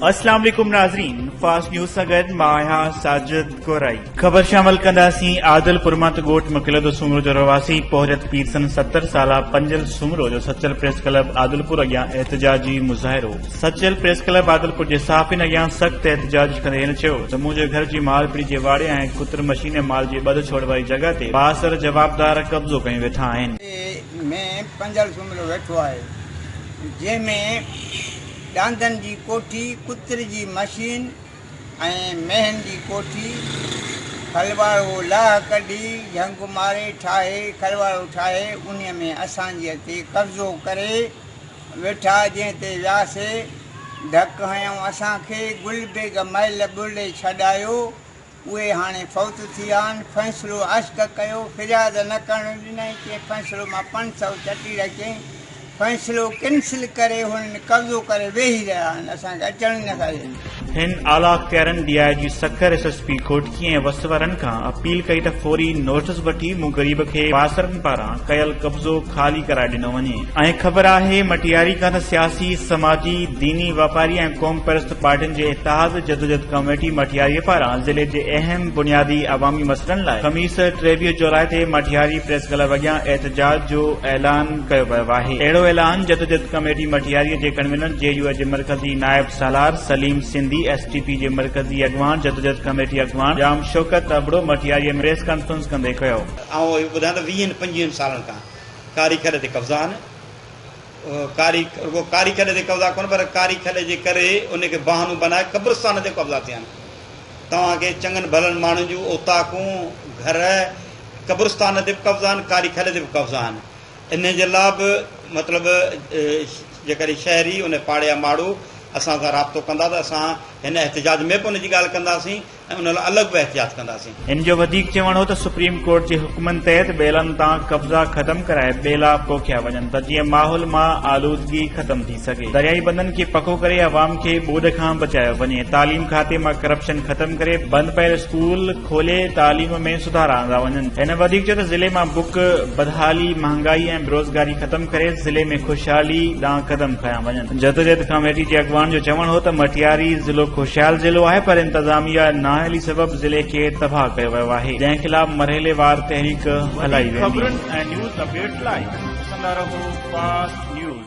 السلام عليڪم ناظرين فاسٽ نيوز سان گڏ مان آهيان ساجد گورائي خبر شامل ڪنداسين عادل پرمات ڳوٺ مکلدو سومرو جو رهواسي پورت پيرسن ستر سالا پنجل سومرو جو سچل پريس ڪلب عادلپور اڳيان احتجاجي مظاهرو سچل پريس ڪلب عادلپور جي صحافين اڳيان سخت احتجاج ڪندي هن چيو ته منهنجي گهر جي مال پڙي جي واڙي ۽ ڪتر مشيني مال جي ٻڌ ڇوڙ واري جڳهه تي بااثر جوابدار قبضو ڪيون ويٺا آهن. ۾ پنڌل سومرو ويٺو آهي جنهن ۾ ڏاندن جي ڪوٺي، ڪتر جي مشين ۽ مينهن جي ڪوٺي کلواڙو لاهه ڪڍي جهنگ ماري ٺاهي کلواڙو ٺاهي انهي ۾ اسانجي تي قبضو ڪري، ويٺا جنهن تي وياسي ڌڪ هنيائون اسان کي گل بيگ مئل ٻرڙي ڇڏايو اهي هاڻي فوت ٿي آن فيصلو عشق ڪيو فرياد نه ڪرڻ ڏنائين چين فيصلو مان پنج سئو چٽيرا چين فيصلو ڪنسل ڪري هنن قبضو ڪري ويهي رهيا آهن اسان کي اچڻ ئي نه ٿا ڏين. هن اعليٰ ڪيرن D I G Sukkur, S S P Ghotki ۽ وس وارن کان اپيل ڪئي ته فوري نوٽس وٺي مون غريب کي پاسرن پاران ڪيل قبضو خالي ڪرائي ڏنو وڃي ۽ خبر آهي مٽياري کان ته سياسي، سماجي، ديني، واپاري ۽ قوم پرست پارٽين جي اتحاد جدوجھد ڪميٽي مٽياري پاران ضلعي جي اهم بنيادي عوامي مسئلن لاء خميس ٽيويهه جولاء تي مٽياري پريس ڪلب اڳيان احتجاج جو اعلان ڪيو ويو آهي اهڙو اعلان جدوجھد ڪميٽي مٽياري جي ڪنوينر جي يو اي جي مرڪزي نائب سالار Salim Sindhi S T P جي مرڪزي اڳواڻ جدوجھد ڪميٽي اڳواڻ ڄام شوڪت ابڙو مٽياريء ۾ پريس ڪانفرنس ڪندي ڪيو. آئون اهو ٻڌان ته ويهن پنجويهن سالن کان ڪاري کڏ تي قبضا آهن. ڪاري رڳو ڪاري کڏ تي قبضا ڪونه پر ڪاري کڏ جي ڪري ان کي بهانو بنائي قبرستان تي قبضا ٿيا آهن. توهان کي چڱن ڀلن ماڻهن جون اوطاقون، گهر، قبرستان تي به قبضا آهن، ڪاري کڏ تي به قبضا آهن. انهيء جي لاء به مطلب جيڪڏهن شهري ان پاڙي يا ماڙو اسان سان رابطو ڪندا ته اسان هن احتجاج ۾ به ان جي ڳالهه ڪنداسين ۽ ان لاء الڳ به احتجاج ڪنداسين. هن جو وڌيڪ چوڻ هو ته سپريم ڪورٽ جي حڪمن تحت ٻيلن تان قبضا ختم ڪرائي ٻيلا پوکيا وڃن ته جيئن ماحول مان آلودگي ختم ٿي. سگهي. درياهي بندن کي پڪو ڪري عوام کي ٻوڏ کان بچايو وڃي، تعليم کاتي مان ڪرپشن ختم ڪري بند پيل اسڪول کولي تعليم ۾ سڌارا آندا وڃن. هن وڌيڪ چيو ته ضلعي مان بک، بدحالي، مهانگائي ۽ بيروزگاري ختم ڪري ضلعي ۾ خوشحالي ڏانهن قدم کنيا وڃن. جدوجهد ڪاميٽي جي اڳواڻ جو چوڻ هو ته مٽياري ضلعو خوشحال ضلعو آهي پر انتظاميه نااهلي سبب ضلعي کي تباهه ڪيو ويو آهي جنهن خلاف مرحليوار تحريڪ هلائي ويندي. ته ٻيٽ لاء ڏسندا رهو فاسٽ نيوز.